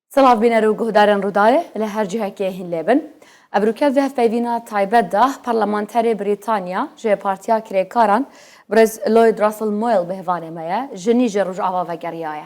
Silav bîne rû guhdarên Rûdayê li her cihekê hîn lê bin. Ev rûkev di hevpeyvîna taybet de Parlamenterê Brîtanya ji Partiya Kirêkaran Birêz Lloyd Russell Moyle bi hivanê me ye, jinî ji Rojava vegeriyaye.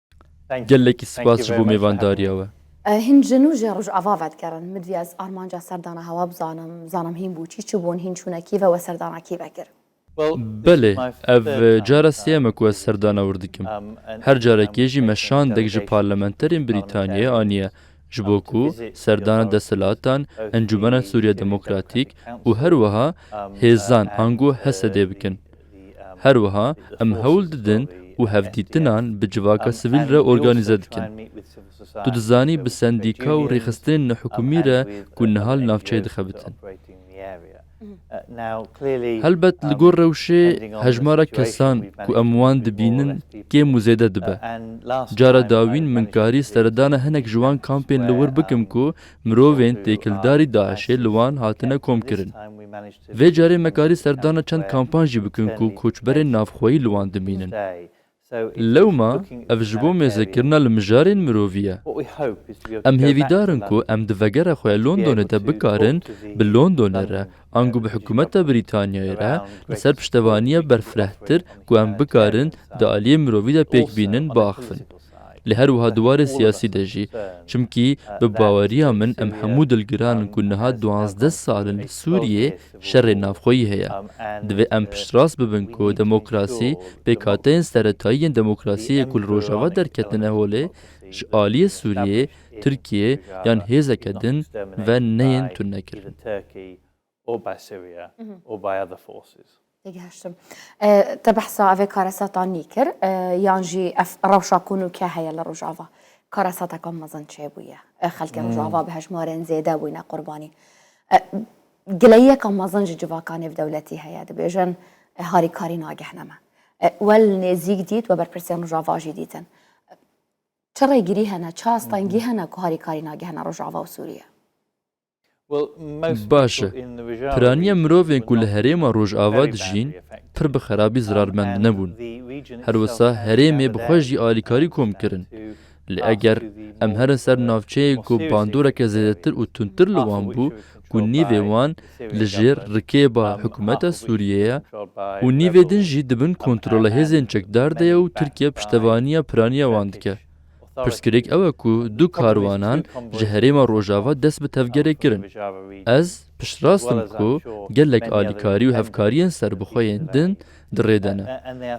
Gelekî spas ji bo mêvandariya we. Hîn ji nû ji Rojava vedigerin. Min divê ez armanca serdana hewa bizanim, bizanim hîn bû çi çi bûn, hîn çûne Kîevê we serdana Kîevê kir. Belê, ev cara sêyem e ku ez serdana wir dikim. Her carekê jî me şandek ji parlamenterên Brîtanyayê aniye ji bo ku serdana desthilatan, Encûmena Sûriya Demokratîk û her wiha hêzan ango HESEDê bikin. Her wiha em hewl didin û hevdîtinan bi civaka sivîl re organîze dikin. Tu dizanî bi sendîka û rêxistinên nehikûmî re ku niha li navçeyê dixebitin. Helbet li gor rewşê hejmara kesan ku em wan dibînin kêm û zêde dibe. Cara dawîn min karî seredana hinek ji wan kampên li wir bikim ku Mirovên têkildarî DAIŞ'ê li wan hatine komkirin. Vê carê me karî serdana çend kampan jî bikin ku koçberên navxweyî li wan dimînin. Lewma ev ji bo mêzekirina li mijarên mirovî ye. Em hêvîdar in ku em di vegera xwe ya Londonê de bikarin bi Londonê re Ango bi hikûmeta Brîtanyayê re li ser piştevaniya berfirehtir ku em bikarin di aliyê mirovî de pêk bînin biaxivin. Lê her wiha di warê siyasî de jî. Çimkî bi baweriya min em hemû dilgiran in ku niha duwazdeh sal in li Sûriyê şerê navxweyî heye. Divê em piştrast bibin ku demokrasî, pêkhateyên seretayî yên demokrasiyê ku li Rojava derketine holê ji aliyê Sûriyê, Tirkiyê yan hêzeke din ve neyên tunekirin. Tê gihiştim. Te behsa evê karesata nî kir yan jî ev rewşa ku nûke heye li Rojava karesateke mezin çêbûye. Xelkê Rojava bi hejmarên zêde bûyne qurbanî. Gileyiyeke mezin ji civaka nêvdewletî heye dibêjin harîkarî nagihne me. We li nêzîk dît we berpirsên Rojava jî dîtin. Çi rêgirî hene, çi astengî hene ku harîkarî nagihene Rojava û Sûriye? Baş e. Piraniya mirovên ku li herêma Rojava dijîn pir bi xerabî zirarmend nebûn. Her wisa herêmê bi xwe jî alîkarî kom kirin. Lê eger em herin ser navçeyên ku bandoreke zêdetir û tundtir li wan bû ku nîvê wan li jêr rikêba hikûmeta Sûriyê ye û nîvê din jî di bin kontrola hêzên çekdar de ye û Tirkiye piştevaniya piraniya wan dike. Pirsgirêk ew e ku du karwanan ji herêma rojava dest bi tevgerê kirin. Ez piştrast im ku gelek alîkarî û hevkariyên serbixwe yên din di rê de ne.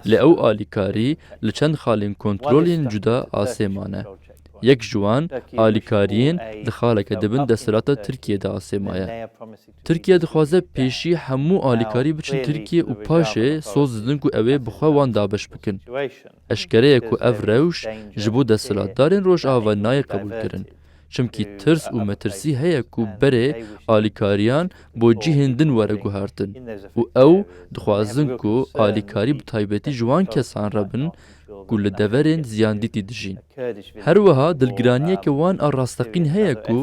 Lê ew alîkarî li çend xalên kontrol yên cuda asê mane. Yek ji wan alîkariyên di xaleke di bin desthilata Tirkiyeyê de asêmaye. Tirkiye dixwaze pêşî hemû alîkarî biçin Tirkiyê û paşê soz didin ku ew ê bi xwe wan dabeş bikin. Eşkere ye ku ev rewş ji bo desthilatdarên Rojava nayê qebûlkirin. Çimkî tirs û metirsî heye ku berê alîkariyan bo cihên din were guhertin û ew dixwazin ku alîkarî bi taybetî ji wan kesan re bin ku li deverên ziyandîtî dijîn. Her wiha dilgiraniyeke wan a rasteqîn heye ku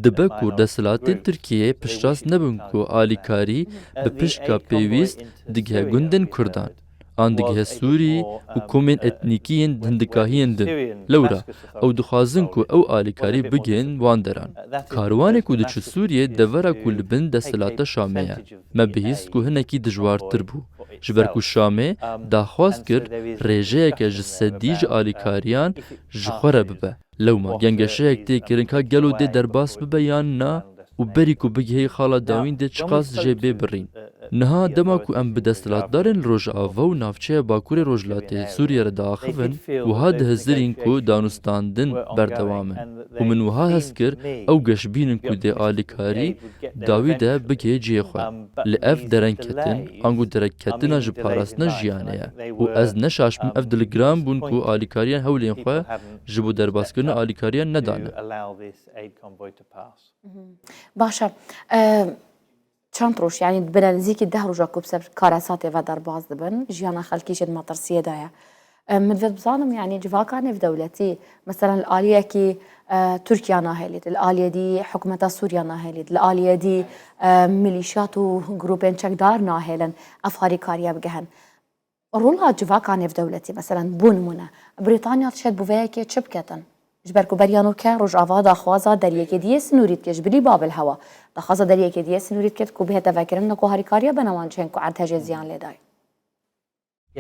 dibe ku desthilatên Tirkiyeyê piştrast nebin ku alîkarî bi piştga pêwîst digihe gundên Kurdan an digihe Sûrî û komên etnîkî yên hindikahiyên din. Lewra ew dixwazin ku ew alîkarî bigihên wan deran. Karwanê ku diçû Sûriyê devera ku li bin desthilata Şamê ye. Me bihîst ku hinekî dijwartir bû, ji ber ku Şamê daxwaz kir rêjeyeke ji sedî ji alîkariyan ji xwe re bibe. Lewma gengeşeyek tê kirin ka gelo dê derbas bibe yan na û berî ku bigihê xala dawîn dê çiqas dijê bê birîn. Niha dema ku em bi desthilatdarên li Rojava û navçeya Bakurê Rojhilatê Sûriyê re diaxivin, wiha dihizirîn ku danûstandin berdewam in û min wiha hest kir ew geş bînin ku dê alîkarî Dawî de bigê cihê xwe. Li ev derenketin ango derekketina ji parastina jiyanê ye û ez ne şaş bim ev diligiran bûn ku alîkariyan hewlên xwe ji bo derbaskirina alîkariyan nedane. Baş e. Çend roj yanî bine nizîkî deh roja ku bi ser karesatê ve derbas dibin, jiyana xelkî jê di metirsiyê de ye. Min ve bizanim yanî civaka nêvdewletî mesela li aliyekî Tirkiya nahêlî li aliyê dî hikûmeta Sûriya nahêlî li aliyê dî milîşyat û grûpên çekdar nahêlin ev harîkariye bigihin. Rola civaka nêvdewletî mesela bû nimûne Brîtanya dişê di bûveyekê çi biketin? Ji ber ku beriya nû ke Rojava daxwaza deriyekê diyê sinûrî dike ji bilî Babil hewa. Daxwaza deriyekê diyê sinûrî dike ku bihête vekirin ne ku harîkariye bena wan cihên ku erdhejê ziyan lê dayê.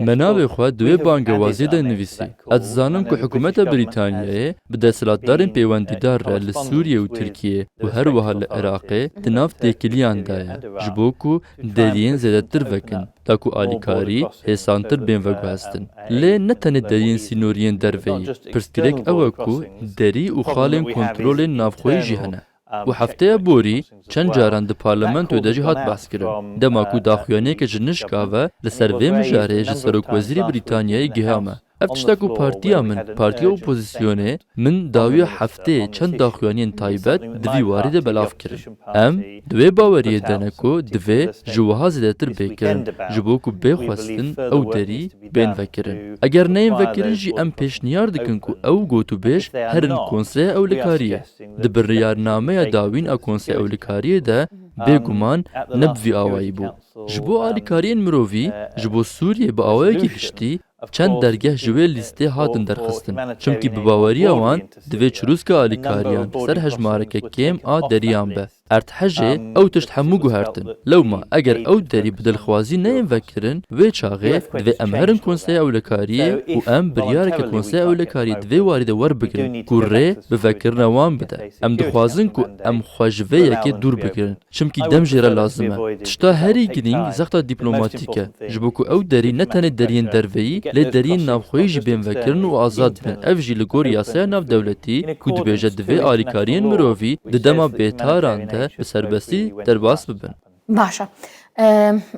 Me navê xwe di wê bangewazê de nivîsî. Ez dizanim ku hikûmeta Brîtanyayê bi desthilatdarên pêwendîdar re li Sûriyê û Tirkiyê û her wiha li Iraqê di nav têkiliyan de ye ji bo ku deriyên zêdetir vekin ta ku alîkarî hêsantir bên veguhestin. Lê ne tenê deriyên sînoriyên derveyî. Pirsgirêk ew e ku derî û xalên kontrolên navxweyî jî hene. Û hefteya borî çend caran di parlamentoyê de jî hat behskirin. Dema ku daxuyaniyeke ji nişka ve li ser vê mijarê ji serokwezîrê Brîtanyayê giha me. Ev tişta ku partiya min, partiya opozîsyonê min dawiya heftê çend daxuyaniyên taybet di vî warî de belav kirin. Em di wê baweriyê de ne ku divê ji wiha zêdetir bê kirin ji bo ku bê xwestin ew derî bên vekirin. Eger neyên vekirin jî em pêşniyar dikin ku ew gotûbêj herin konsreya ewlekariyê. Di biryarnameya dawîn a Konseya Alîkariyê de bê guman ne bi vî awayî bû. Ji bo alîkariyên mirovî ji bo Sûriyê bi awayekî giştî çend dergeh ji wê lîstê hatin derxistin, çimkî bi baweriya wan divê çirûska alîkariyan li ser hejmareke kêm a deriyan be. Erdhejê ew tişt hemû guhertin. Lewma eger ew derî bi dilxwazî neyên vekirin, wê çaxê divê em herin Konseya Ewlekariyê û em biryareke Konseya Ewlekariyê di vê warî de werbigirin ku rê bi vekirina wan bide. Em dixwazin ku em xwe ji vê yekê dûr bigirin. Çimkî dem jê re lazim e. Tişta herî girîng zexta dîplomatîk e. Ji bo ku ew derî ne tenê deriyên derveyî lê deriyên navxweyî jî bên vekirin û azad bin ev jî li gor yasaya navdewletî ku dibêje divê alîkariyên mirovî di dema bêtaran de bi serbestî derbas bibin. Baş e.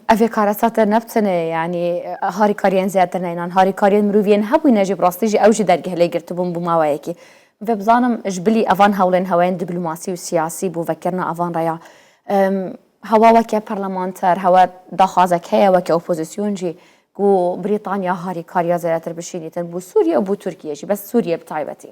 Ev yê karesate ne bi tenê yanî harîkariyên zêdetir ne înan harîkariyên mirovî yên hebûne jî bi rastî jî ew jî dergeh lê girtibûn bû maweyekî. Divê bizanim ji bilî evan hewlên hewayên dîplomasî û siyasî bo vekirina evan re ya Hewa weke parlamenter, hewa daxwazek heye weke opozîsyon jî ku Brîtanya harîkariya zêdetir bişînîtin bo Sûrîye û bo Tirkîye jî, bes Sûrîye bi taybetî.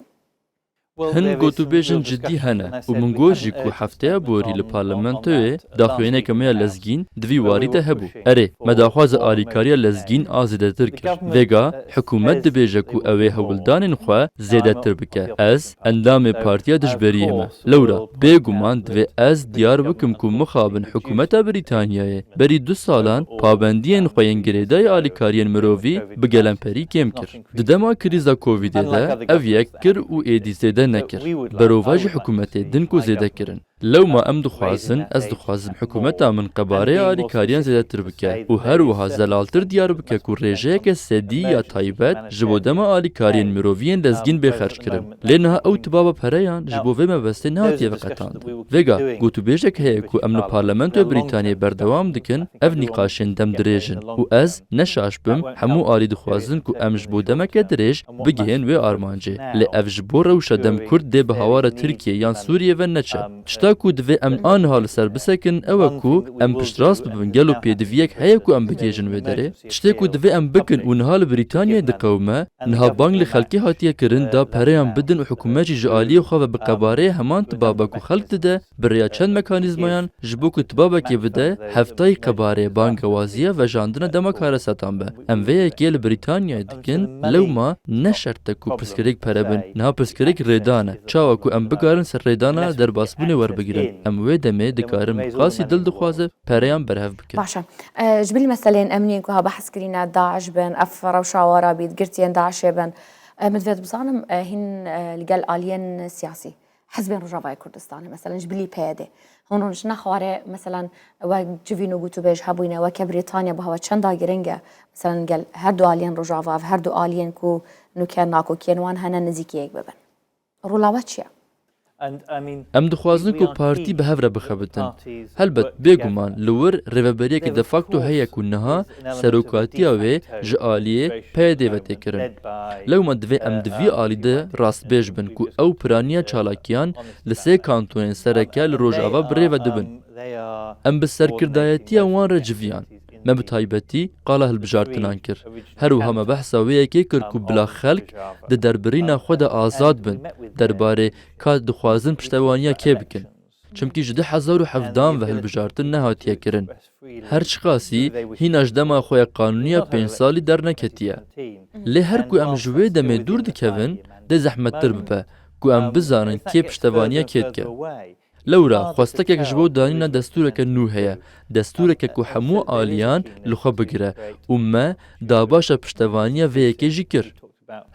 Hin gotûbêjin cidî hene û min got jî ku hefteya borî li parlamentoyê daxuyaneke me ya lezgîn di vî warî de hebû. Erê, me daxwaza alîkariya lezgîn a zêdetir kir. Vêga, hikûmet dibêje ku ew ê hewldanên xwe zêdetir bike. Ez, endamê partiya dijberiyê me. Lewra bêguman divê ez diyar bikim ku mixabin hikûmeta Brîtanyayê berî du salan pabendiyên xwe yên girêdayî alîkariyên mirovî bi gelemperî kêm kir. Di dema krîza Covidê de ev yek kir û êdî zêde nekir. Berova ji hikûmetê din ku zêde kirin. Lewma em dixwazin, ez dixwazim hikûmeta min qebarê alîkariyan zêdetir bike û her wiha zelaltir diyar bike ku rêjeyeke sedî ya taybet ji bo dema alîkariyên miroviyên lezgîn bê xerc kirin. Lê niha ew tibaba pereyan ji bo vê mebestê nehatiye veqetandin. Vêga, gotûbêjek heye ku em li Parlamentoya Brîtanyayê berdewam dikin ev nîqaşên dem dirêjin û ez, ne şaş bim, hemû alî dixwazin ku em ji bo demeke dirêj, bigihên wê armancê. Lê ev ji bo rewşa dem Kurd dê bi hawara Tirkiyê yan Sûriyê ve neçe. Tişta ku divê em aniha li ser bisekin ew e ku em piştrast bibin gelo pêdiviyek heye ku em bigihêjin wê derê? Tiştê ku divê em bikin û niha li Brîtanyayê diqewime, niha bang li xelkê hatiye kirin da pereyan bidin û hikûmet jî ji aliyê xwe ve bi qebareyê heman tibaba ku xelk dide bi rêya çend mekanîzmayan ji bo ku tibabekê bide hevtayî qebareyê, bangewaziya, vejandina dema karesetan be. Em vê yekê li Brîtanyayê dikin. Kin, lewma ne şert e ku pirsgirêk pere bin. Niha pirsgirêk rêdan e. Çawa ku em bikarin ser rêdana derbasbûnê werbigirin, em wê demê dikarin bi qasî dil dixwaze pereyan berhev bikin. Baş e. Ji ber meseleyên emnî yên ku ha behs kirîne, DAIŞ bin, ev rewşa wan rabît, girtiyên DAIŞê bin, min divê dibzanim hîn li gel aliyên siyasî hizbên Rojavayê Kurdistanê meselan ji bilî PYD hûn hûn ji ne xwarê meselan we civîn û gotûbêj hebûne weke Brîtanya bi hewa çenda giring e meselan gel her du aliyên Rojava ev her du aliyên ku nûke nakokiyên wan hene nizîkiyek bibin. Rola we çi ye? Em dixwazin ku partî bi hev re bixebitin. Helbet bêguman li wir rêveberiyeke de facto heye ku niha Serokatiya wê ji aliyê PYD'ê ve tê kirin. Lewma divê em di vî alî de rastbêj bin ku ew piraniya çalakiyan li sê kantonên sereke li Rojava bi rê ve dibin. Em bi serkirdayetiya wan re civiyan. Me bi taybetî qala hilbijartinan kir. Her wiha me behsa wê yekê kir ku bila xelk di derbirîna xwe de azad bin derbarê ka dixwazin piştevaniya kê bikin. Çimkî ji du hezar û hevdan ve hilbijartin nehatiye kirin. Her çiqasî hîna ji dema xwe ya qanûniya pênc salî derneketiye. Lê her ku em ji wê demê dûr dikevin, dê zehmettir bibe ku em bizanin kê piştevaniya kê dike. Lewra xwestekek ji bo danîna destûreke nû heye, destûreke ku hemû aliyan li xwe bigire û me dabaşa piştevaniya vê yekê jî kir.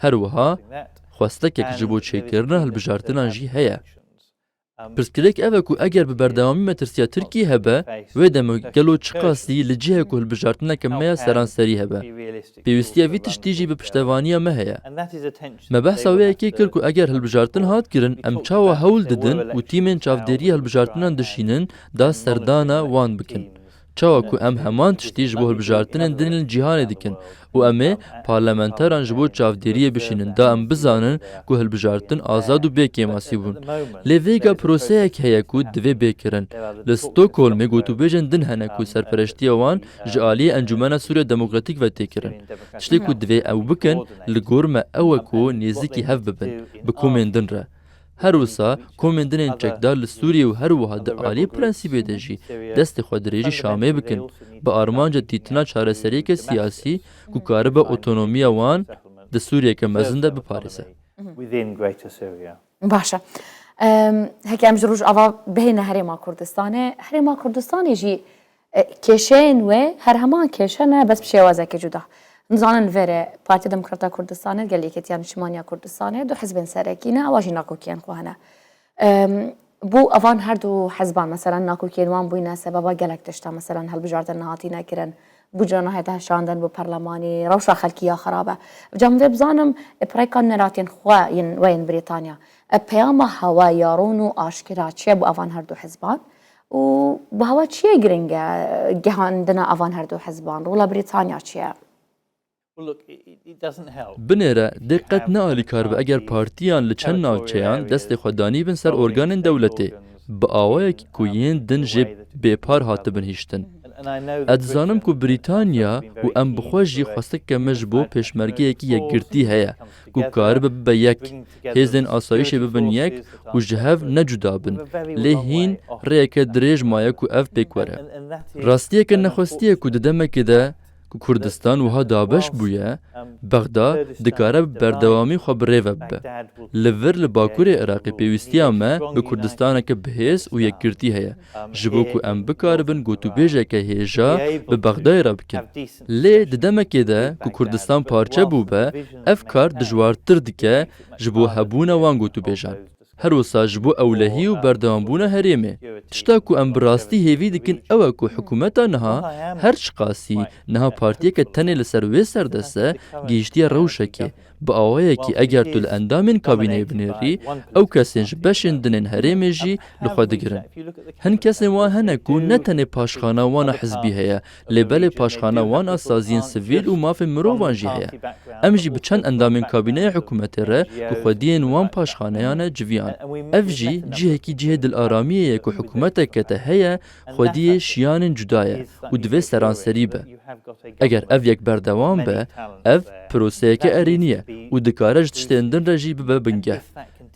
Her wiha xwestekek ji bo çêkirina hilbijartinan jî heye. Pirsgirêk ev e ku eger bi berdewamî metirsiya Tirkiyê hebe, wê demok gelo çi qasî li cihê ku hilbijartineke me ya seranserî hebe. Pêwîstiya vî tiştî jî bi piştevaniya me heye. Me behsa wê yekê kir ku eger hilbijartin hat kirin em çawa hewl didin û tîmên çavdêriya hilbijartinan dişînin da serdana wan bikin. Çawa ku em heman tiştî ji bo hilbijartinên din li cîhanê dikin û em ê parlamenteran ji bo çavdêriyê bişînin da em bizanin ku hilbijartin azad û bê kêmasî bûn. Lê vêga proseyek heye ku divê bê kirin. Li Stockholmê gotûbêjên din hene ku serpereştiya wan ji aliyê Encûmena Sûriya Demokratîk ve tê kirin. Tiştê ku divê ew bikin li gor me ew e ku nêzîkî hev bibin bi komên din re. Her wisa komên dinên çekdar li Sûriyê û her wiha di aliyê prensîbê de jî destê xwe dirêjî Şamê bikin bi armanca dîtina çareseriyeke siyasî ku karibe otonomiya wan di Sûriyeke mezin de biparêze. Baş e. Heke em ji Rojava bihêne Herêma Kurdistanê, Herêma Kurdistanê jî Kêşeyên wê her heman kêşe ne bes bi şêwazekî cuda. Nizanin verê Partiya Demokrata Kurdistanê, gel Yekêtiya Niştimaniya Kurdistanê du hizbên serekî ne ewa jî nakokiyên xwe hene. Bo evan her du hizban meselen nakokiyên wan bûyne sebeba gelek tiştan meselen hilbijartin nehatîne kirin, bûcre nahête hişandin bo perlemanî, rewşa xelkî ya xerab e. Ca min divê bizanim pirêka neratên xwe yên we yên Brîtanya peyama hewa ya rûn û aşkera çi ye bo evan her du hizban? Û bi hava çi ye giring e gihandina avan her du hizban? Rola Brîtanya çi ye? Binêre dê qet ne alîkar be eger partiyan li çend navçeyan destê xwe danîbin ser organên dewletê bi awayekî ku yên din jê bêpar hatibin hiştin. Ez dizanim ku Brîtanya û em bi xwe jî xwestekeke me ji bo pêşmergeyekî yekgirtî heye ku karibe bibe yek Hêzên asayîşê bibin yek û ji hev ne cuda bin, lê hîn rêyeke dirêj maye ku ev pêk were. Rastiyeke nexwestiye ku di demekê de ku Kurdistan wiha dabeş bûye, Bexda dikare bi berdewamî xwe bi rê ve bibe. Li vir li bakurê Iraqê pêwîstiya me bi Kurdistaneke bihêz û yekgirtî heye, ji bo ku em bikaribin gotûbêjeke hêja bi Bexdayê re bikin. Lê di demekê de ku Kurdistan parçe bûbe, ev kar dijwartir dike ji bo hebûna wan gotûbêjan. Her wisa ji bo ewlehî û berdewambûna herêmê. Tişta ku em bi rastî hêvî dikin ew e ku hikûmeta niha, her çiqasî niha partiyeke tenê li ser wê serdeste, gihîştiye rewşekê, Bi awayekî eger tu li endamên kabîneyê binêrî, ew kesên ji beşên din ên herêmê jî li xwe digirin. Hin kesên wan hene ku ne tenê paşxana wan a hizbî heye, lê belê paşxana wan a saziyên sivîl û mafên mirovan jî heye. Em jî bi çend endamên kabîneya hikûmetê re ku xwediyên wan paşxaneyane civiyan. Ev jî cihekî cihê dilaramiyê ye ku hikûmetek kete heye Xwediyê şiyanên cuda ye û divê seranserî be. Eger ev yek berdewam be, ev proseyeke erênî ye û dikare ji tiştên din re jî bibe bingeh.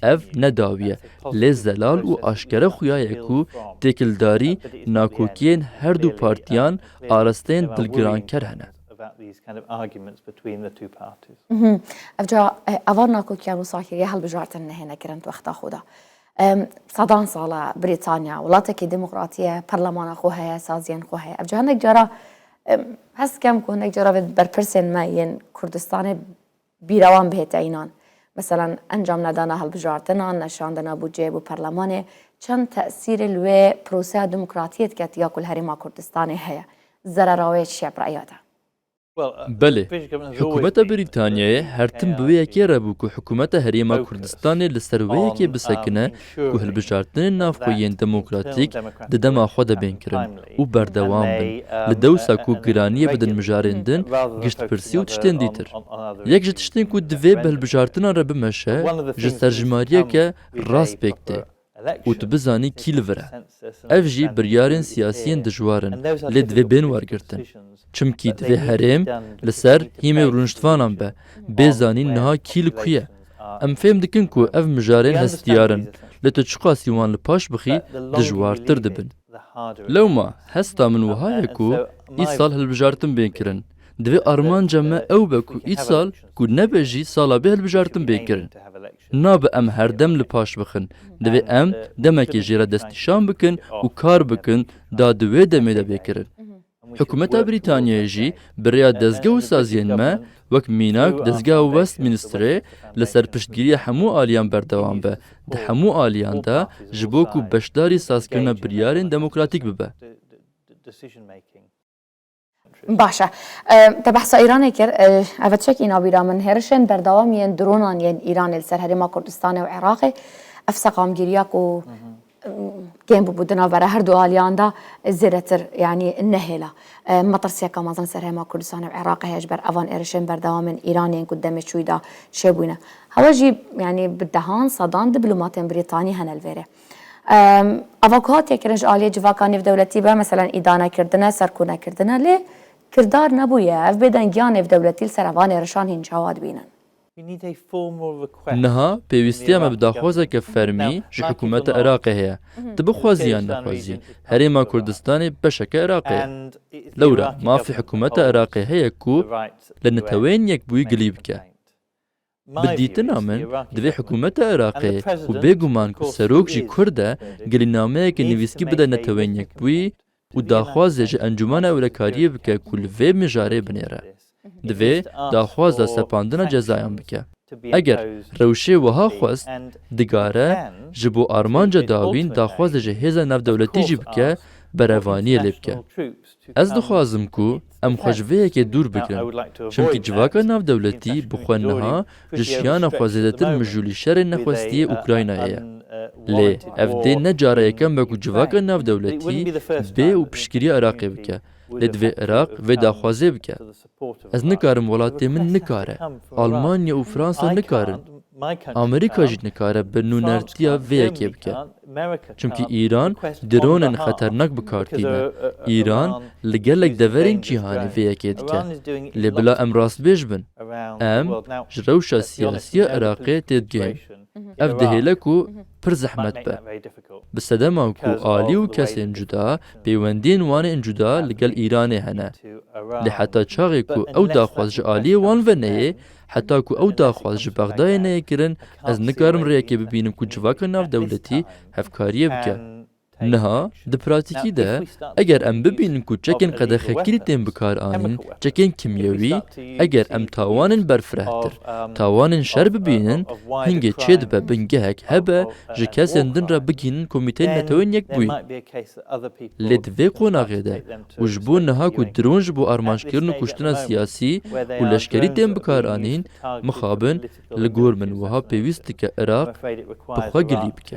Ev ne dawî ye, lê zelal û aşkere xuya ye ku têkildarî, nakokiyên her du partiyan arasteyên dilgiranker hene. Evca ava nakokiyan û sakiriya hilbijartin nehêne kirin di wexta xwe de. Sedan sal e Brîtanya welatekî demokratî ye, perlemana xwe heye, saziyên xwe heye. Ev cî hinek cara hes dikem ku hinek cara vê berpirsên me yên Kurdistanê bîra wan bihête înan. Meselan encam nedana hilbijartinan, neşandina bûceyê bo perlemanê çend tesîrê li wê proseya demokratiyê dike tiya ku li Herêma Kurdistanê heye. Zerera wê çi ye bi reya te? Belê, hikûmeta Brîtanyayê her tim bi wê yekê re bû ku hikûmeta Herêma Kurdistanê li ser wê yekê bisekine ku hilbijartinên navxweyîyên demokratîk di dema xwe de bên kirin û berdewam bin li dewsa ku giraniyê bidin mijarên din, giştpirsî û tiştên dîtir. Yek ji tiştên ku divê bi hilbijartinan re bimeşe ji serjimariyeke rast pêk tê. û tu bizanî kî li vir e. Ev jî biryarên siyasî yên dijwar in lê divê bên wergirtin. Çimkî divê herêm li ser hîmê rûniştvanan be, bê zanîn niha kî li ku ye. Em fêm dikin ku ev mijarên hestiyar in lê tu çiqasî wan li paş bixî dijwartir dibin. Lewma hesta min wiha ye ku îsal hilbijartin bên kirin. Divê armanca me ew be ku îsal ku nebe jî sala bê hilbijartin bên kirin. Nabe em herdem li paş bixin. Divê em demekê jê re destnîşan bikin û kar bikin da di wê demê de bê kirin. Hikûmeta Brîtanyayê jî bi rêya dezge û saziyên me wek mînak dezgeha Westminsterê li ser piştgiriya hemû aliyan berdewam be di hemû aliyan de ji bo ku beşdarî sazkirina biryarên demokratîk bibe. Baş e. Te behsa Îranê kir. Ev e tiştekî îna bîra min. Hêrişên berdewam yên dronan yên Îranê li ser herêma Kurdistanê û Iraqê ev seqamgîriya ku kêm bûbû di navbera her du aliyan de zêdetir yanî nehêla. Metirsiyeka mezin li ser herêma Kurdistanê û Iraqê heye ji ber evan êrişên berdewam ên Îranê yên ku di demê çûyî de çêbûne. Hewa jî yanî bi dehan sedan diplomatên Brîtanî hene li vêrê. Ava ku hatiye kirin ji aliyê civaka nêvdewletî be meselan îdanekirdin e, serkonekirdin e lê kirdar nebûye. Ev bêdengiya nêvdewletî li ser evan êrişan hîn çawa dibînin? Niha pêwîstiya me bi daxwazeke fermî ji hikûmeta Iraqê heye. Tu bixwazî yan nexwazî, Herêma Kurdistanê beşeke Iraqê ye. Lewra mafê hikûmeta Iraqê heye ku li Neteweyên Yekbûyî gilî bike. Bi dîtina min, di vê hikûmeta Iraqê û bêguman ku serok jî kurd e, gelî nameyekê nivîskî bide Neteweyên Yekbûyî û daxwazê ji Encûmena Ewlekariyê bike ku li vê mijarê binêre. Divê daxwaza sepandina cezayan bike. Eger rewşê wiha xwest, digare ji bo armanca dawîn daxwazê ji hêza navdewletî jî bike, berevaniyê lê bike. Ez dixwazim ku em xwe ji vê yekê dûr bikin, çimkî civaka navdewletî bi xwe niha ji şiyana xwe zêdetir mijûlî şerê nexwestiyê Ukraynayê ye. Lê ev dê ne cara yekem be ku civaka navdewletî bê û piştgirîya Iraqê bike, lê divê Iraq vê daxwazê bike. Ez nikarim welatê min nikare, Almanya û Fransa nikarin, Amerîka jî nikare bi nûnertiya vê yekê bike. Çimkî Îran dronên xeternak bi kar tîne. Îran li gelek deverên cîhanê vê yekê dike. Lê bila em rastbêj bin. Em ji rewşa siyasî ya Iraqê têdigihên. Ev dihêle ku pir zehmet be. Bi sedeman ku alî û kesên cuda, pêwendiyên wan ên cuda li gel Îranê hene. Lê heta çaxê ku ew daxwaz ji aliyê wan ve neyê, heta ku ew daxwaz ji Bexdayê neyê kirin, ez nikarim rêyekê bibînim ku civaka navdewletî hevkariyê bike. Niha di pratîkî de eger em bibînin ku çekên qedexekirî tên bikaranîn, çekên kimyewî, eger em tawanên berfirehtir, tawanên şer bibînin, hingê çê dibe bingehek hebe ji kesên din re bigihînin Komîteyên Neteweyên Yekbûyî. Lê di vê qonaxê de û ji bo niha ku dron ji bo armanjkirin û kuştina siyasî û leşkerî tên bikaranîn, mixabin li gor min wiha pêwîst dike Iraq bi xwe gilî bike.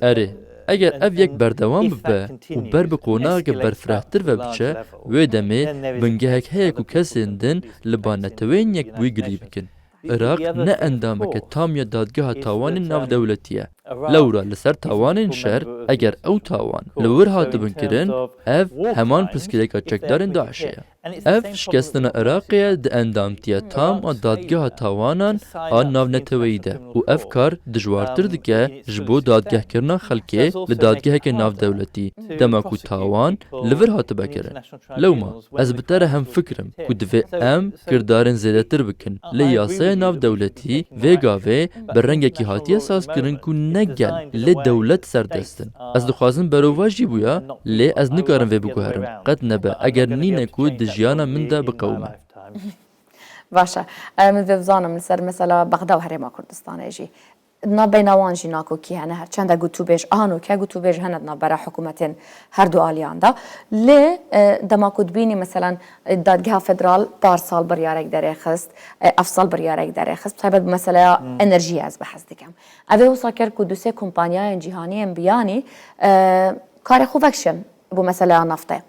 Erê, eger ev yek berdewam bibe û ber bi konageke berfirehtir ve biçe, wê demê bingehek heye ku kesên din li ba neteweyên yekbûyî gilî bikin. Iraq ne endameke tam ya Dadgeha Tawanên Navdewletî ye. Lewra li ser tawanên şer, eger ew tawan li wir hatibin kirin, ev heman pirsgirêka çekdarên DAIŞ'ê ye. Ev şikestina Iraqê ye di endamtiya tam a Dadgeha Tawanan a Navneteweyî de û ev kar dijwartir dike ji bo dadgehkirina xelkê li dadgeheke navdewletî dema ku tawan li vir hatibe kirin. Lewma ez bi te re hemfikr im ku divê em kirdarên zêdetir bikin lê yasaya navdewletî vê gavê bi rengekî hatiye sazkirin ku ne gel lê dewlet serdest in. Ez dixwazim berovajî jî bûya lê ez nikarim vê biguherim. Qet nebe eger nîn e ku di jiyana min de biqewime. Baş e. Min divê bizanim li ser mesela Bexda û Herêma Kurdistanê jî. Di nav beyna wan jî nakokî hene her çend e gotûbêj a no ke gotûbêj hene di navbera hikûmetên herdu aliyan de. Lê dema ku dibînî meselan Dadgeha Federal parsal biryarek derê xist, evsal biryarek derê xist, bi taybet bi meseleya enerjiyê ez behs dikim. Ev ê wisa kir ku du sê kompanyayên cîhanî yên biyanî karê xwe vekişin bo meseleya naftê.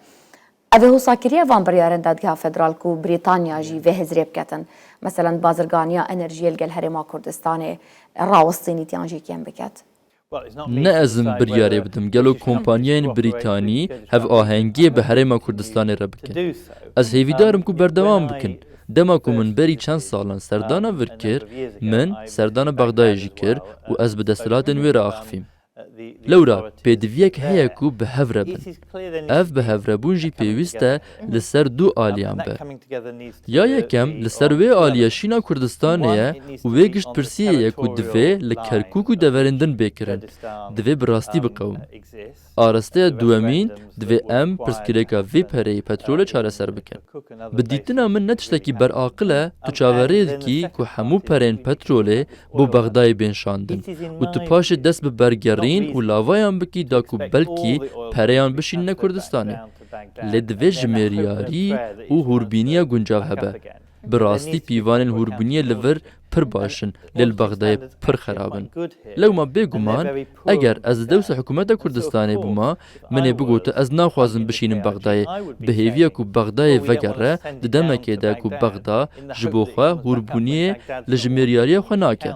Ev ê wisa kiriye van biryarên Dadgeha Federal ku Brîtanya jî vê hêz rê biketin. Meselen bazirganiya enerjiyê li gel Herêma Kurdistanê rawestînî tiyan jî kêm biket. Ne ez im biryarê bidim gelo kompanyayên Brîtanî hevahengiyê bi Herêma Kurdistanê re bikin. Ez hêvîdar im ku berdewam bikin. Dema ku min berî çend salan serdana vir kir, min serdana Bexdayê jî kir û ez bi desthilatên wê re axifîm. Lewra pêdiviyek heye ku bi hev re bin. Ev bihevrebûn jî pêwîst e li ser du aliyan be. Ya yekem li ser wê aliyê Şîna Kurdistanê ye û wê giştpirsiyê ye ku divê li Kerkûk û deverên din bê kirin, divê bi rastî biqewim. Arasteya duwemîn, divê em pirsgirêka vê pereyê petrolê çareser bikin. Bi dîtina min ne tiştekî beraqil e tu çaverê dikî ku hemû pereyên petrolê bo Bexdayê bên şandin û tu paşê dest bi bergerîn û lavayan bikî da ku belkî pereyan bişînine Kurdistanê. Lê divê jimêriyarî û hûrbîniya guncav hebe. Bi rastî pîvanên hûrbîniyê li vir pir baş in lê li Bexdayê pir xerab in. Lewma bêguman eger ez li dewsa hikûmeta Kurdistanê bûma Min ê bigotin ez naxwazim bişînim Bexdayê. Bi hêviya ku Bexdayê vegere, di demekê de ku Bexda ji bo xwe hûrbûniyê li jimêriyariya xwe nake.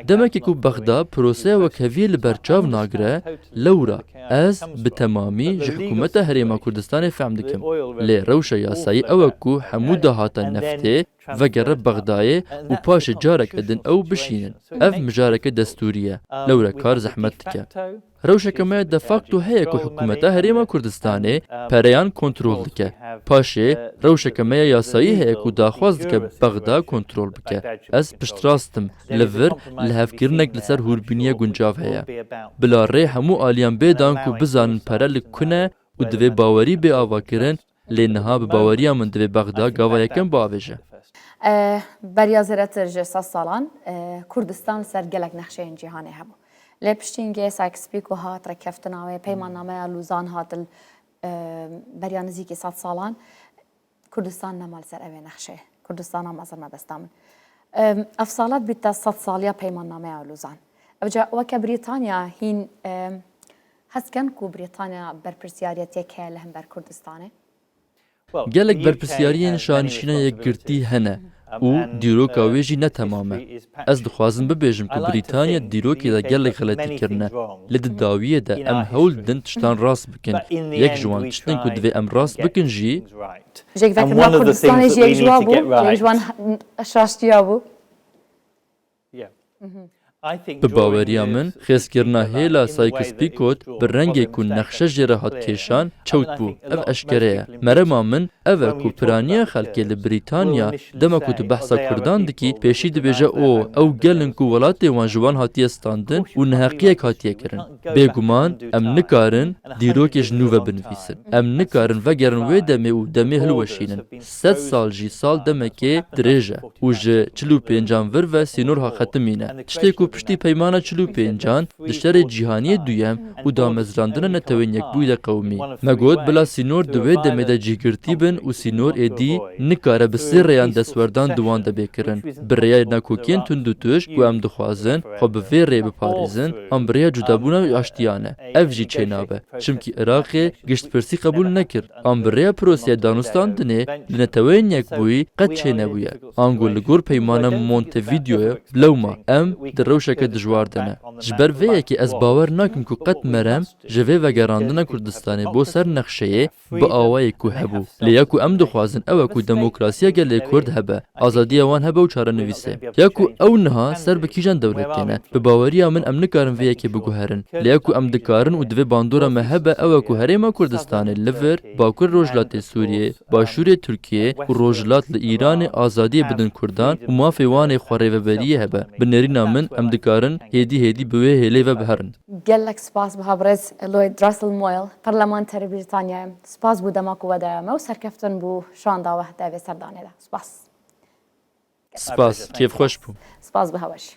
Demekê ku Bexda piroseya wekheviyê li ber çav nagire, lewra ez bi temamî ji hikûmeta Herêma Kurdistanê fehm dikim. Lê rewşa yasayî ew e ku hemû dahata neftê vegere Bexdayê û paşê careke din ew bişînin. Ev mijareke destûrî ye, lewre kar zehmet dike. Rewşeke me de facto heye ku hikûmeta Herêma Kurdistanê pereyan kontrol dike. Paşê rewşeke me ya yasayî heye ku daxwaz dike Bexda kontrol bike. Ez piştrast im li vir lihevkirinek li ser hûrbîniyê guncav heye. Bila rê hemû aliyan bê dan ku bizanin pere li ku ne û divê bawerî bê avakirin Lê niha bi baweriya min divê Bexda gava yekem biavêje. Beriya zêdetir ji sed salan Kurdistan li ser gelek nexşeyên cîhanê hebû. Lê piştî Ingê Sykes-Pîko hat, rêkeftina wê, Peymannameya Lûzan hat li beriya nizîkî sed salan Kurdistan nema li ser evê nexşeyê. Kurdistan a mezin me desta min. Ev sala dibîte sed saliya Peymannameya Lûzan. Ev ca weke Brîtanya hîn Hes dikin ku Brîtanya berpirsyariyet yek heye li hember Kurdistanê? Gelek berpirsyariyên şanişîna yekgirtî hene û dîroka wê jî ne temam e. Ez dixwazim bibêjim ku Brîtanya di dîrokê de gelek xeletî kirine. Lê di dawiyê de em hewl didin tiştan rast bikin. Yek ji wan tiştên ku divê em rast bikin jî. Jêkvekirina Kurdistanê jî yek ji wan bû, yek ji wan rastiya bû. Bi baweriya min xêzkirina hêla Sykes-Picot bi rengê ku nexşe jê re hat kêşan çewt bû. Ev eşkere ye. Merema min ev e ku piraniya xelkê li Brîtanya dema ku tu behsa kurdan dikî pêşî dibêje o ew gel in ku welatê wan ji wan hatiye standin û neheqiyek hatiye kirin. Bêguman em nikarin dîrokê ji nû ve binivîsin. Em nikarin vegerin wê demê û demê hilweşînin. Sed sal jî sal demekê dirêj e û ji çil û pêncan vir ve sînorha xetimî ne. Tiştê ku piştî peymana çil û pêncan di Şerê Cîhaniyê Duyem û damezrandina netewên yekbûyî de qewimî me got bila sînor di wê demê de cîhgirtî bin û sînor êdî nikare bi sê rêyan destwerdan di wan de bê kirin. Bi rêyayê nakokiyên tundûtuj ku em dixwazin, xwe bi vê rê biparêzin an bi rêya cudabûna û aştiya ne. Ev jî çênabe. Çimkî Iraqê giştpirsî qebûl nekir an bi rêya proseya danûstandinê di Neteweyên Yekbûyî qet çênebûye. Ango li gor peymana Montevideoyê bilewma em di rewşeke dijwar de ne. Ji ber vê yekê ez bawer nakim ku qet merem ji vê vegerandina Kurdistanê bo ser nexşeyê bi awayek ku hebû. Lê ya ku em dixwazin ew e ku demokrasiya gelê Kurd hebe, azadiya wan hebe û çarenivîse. Ya ku ew niha ser bi kîjan dewlet têne? Bi baweriya min em nikarin vê yekê biguherin. Lê ya ku em dikarin û divê bandora me hebe ew e ku Herêma Kurdistanê li vir, Bakurê Rojhilatê Sûriyê, Başûrê Tirkiyê û Rojhilat li Îranê azadiyê bidin Kurdan û mafê wan ê xwerêveberiyê hebe. Bi nêrîna min em dikarin hêdî hêdî bi wê hêlê ve biherin. Gelek spas biha birêz Lloyd Russell Moyle, Perlemanterê Brîtanyayê. Spas bû dema ku we daya me û serkeftin bû şanda we di vê serdanê de. Spas. Spas. Kêf xweş bû. Spas biha we jî.